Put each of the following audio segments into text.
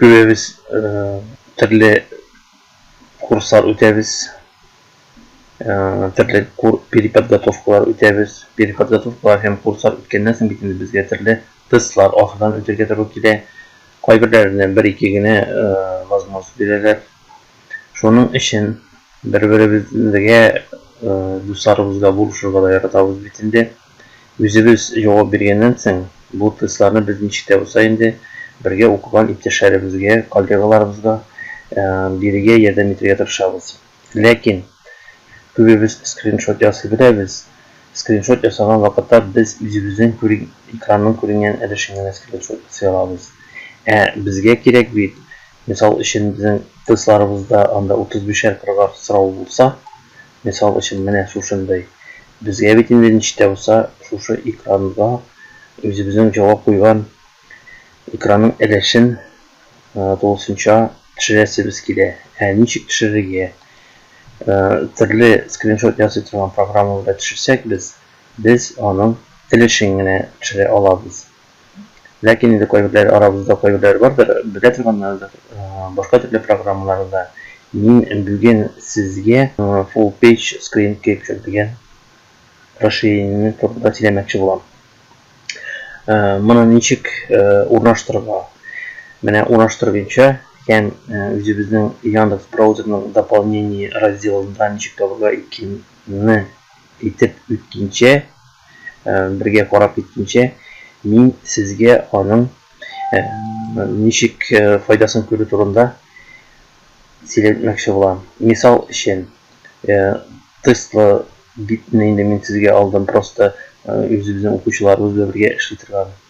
Күбебез төрле курслар үтәбез, төрле переподготовкалар үтәбез. Переподготовкалар һәм курслар үткәннән соң бит инде безгә төрле тестлар ахырдан үтергә туры килә. Кайберләренә бер-ике генә возможность бирәләр. Шуның өчен бер-беребезгә, дусларыбызга булышырга да яратабыз бит инде. Үзебез җавап биргәннән соң, бу тестларны без ничек тә булса инде бергә укыган иптәшләребезгә, коллегаларыбызга бирергә, ярдәм итәргә тырышабыз. Ләкин, күбебез скриншот ясый беләбез, скриншот ясаган вакытта без үзебезнең күрин экранның күренгән өлешен генә скриншот ясый алабыз. Ә безгә кирәк бит, мисал өчен, безнең тестларыбызда анда утыз бишәр кырыгар сорау булса, Мисал өчен, менә шушындый. Безгә бит инде ничек тә булса шушы экранга үзебезнең җавап куйган экранның өлешен тулысынча төшерәсебез килә. Ә ничек төшерергә? Төрле скриншот ясый торган программа белән төшерсәк без, без аның өлешен генә төшерә алабыз. Ләкин инде кайберләре, арабызда кайберләре бардыр, белә торганнардыр, башка төрле программаларда мин бүген сезгә Full Page Screen Capture дигән расширениене турында сөйләмәкче булам. Моны ничек урнаштырырга? Менә урнаштыру буенча һәм үзебезнең Яндекс браузерның дополнение разделында ничек табарга икәнне әйтеп үткәнчә, бергә карап киткәнче, мин сезгә аның ничек файдасын күрү турында сөйләтмәкче булам. Мисал өчен, тестлы битне инде мин сезгә алдым, просто үзе безнең укучыларыбыз белән бергә эшли торган.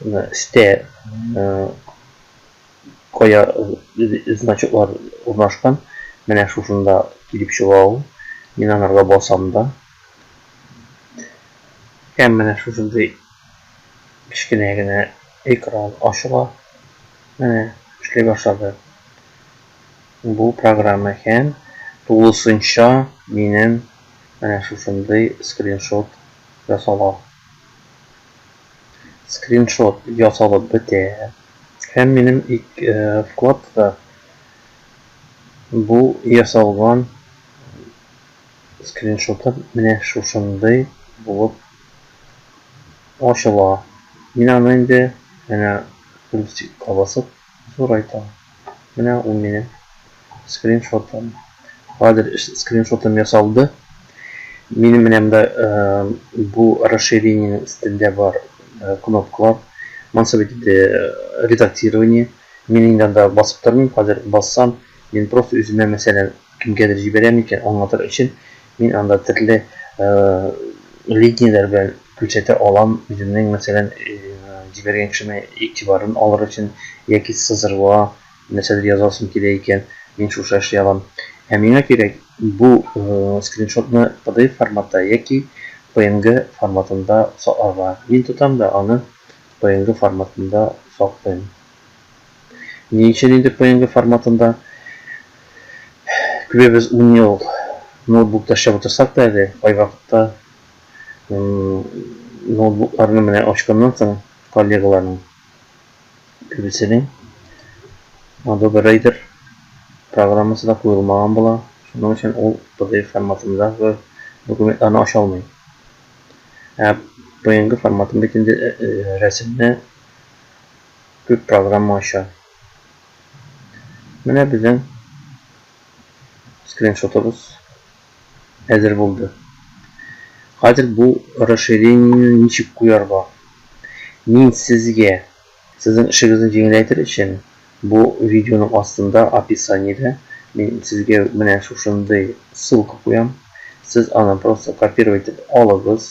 өстә кая значоклар урнашкан. Менә шушында килеп чыга ул. Мин анарга басам да. Һәм менә шушындый кечкенә генә экран ачыла. Менә эшли башлады. Бу программа һәм тулысынча минем менә шушындый скриншот ясала. скриншот ясалып бетә һәм минем вкладта бу ясалган скриншотым менә шушындый булып ачыла. Мин аны инде әнә плюсикка басып Зурайтам. Менә ул минем скриншотым. Хәзер скриншотым ясалды. Минем менә монда бу расширениенең өстендә бар кнопкалар. Монсы бит инде редактирование. Мин инде анда басып тормыйм. Хәзер бассам, мин просто үземә мәсәлән кемгәдер җибәрәм икән, аңлатыр өчен Мин анда төрле линияләр белән күрсәтә алам, үземнең, мәсәлән, җибәргән кешемә игътибарын алыр өчен, яки сызыруга нәрсәдер язасым килә икән, мин шушы эшли алам. Ә миңа кирәк, бу скриншотны pdf форматта яки png форматында сакларга. Мин тотам да аны png форматында саклыйм. Ни өчен инде PNG форматында? Күбебез ун ел ноутбукта эшләп утырсак та әле, кайвакытта ноутбукларны менә ачканнан соң коллегаларның күбесенең Adobe Reader программасы да куелмаган була, шуның өчен ул PDF форматындагы документларны ача алмый. Ә PNG форматын бит инде рәсемне күп программа ача. Менә безнең скриншотыбыз әзер булды. Хәзер бу расширениене ничек куярга? Мин сезгә, сезнең эшегезне җиңеләйтер өчен, бу видеоның астында, описаниедә, мин сезгә менә шушындый ссылка куям. Сез аны просто копировать итеп алыгыз.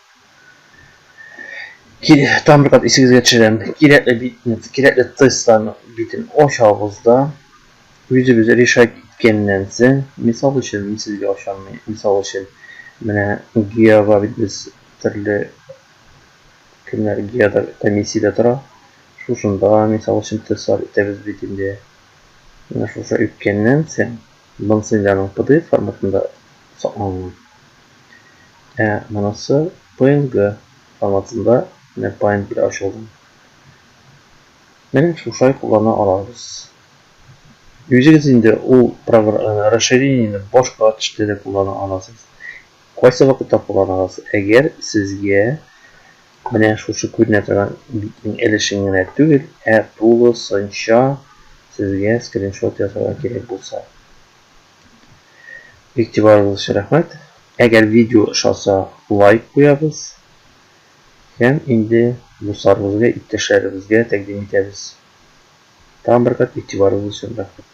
Тагын бер кат исегезгә төшерәм, кирәкле битне, кирәкле тестларны битен ачабыз да, үзебез решать иткәннән соң, мисал өчен, мин сезгә ачам, мисал өчен, менә ГИАга бит без төрле кемнәр ГИАда комиссиядә тора, шушында, мисал өчен, тестлар итәбез бит инде. Менә шушы үткәннән соң, Моның семьяның pdf форматында сакланган. Ә монысы png форматында менә Paint белән ачылган. Менә шушай куллана алабыз. Үзегез инде ул расширениене башка төштә дә куллана аласыз. Кайсы вакытта кулланасыз? Әгәр сезгә Менә шушы күренә торган битнең өлешен генә түгел, ә тулысынча сезгә скриншот ясарга кирәк булса. Игътибарыгыз өчен рәхмәт. Әгәр видео ошаса, лайк куябыз. Һәм инде дусларыбызга, иптәшләребезгә тәкъдим итәбез. Тагын бер кат игътибарыгыз өчен рәхмәт.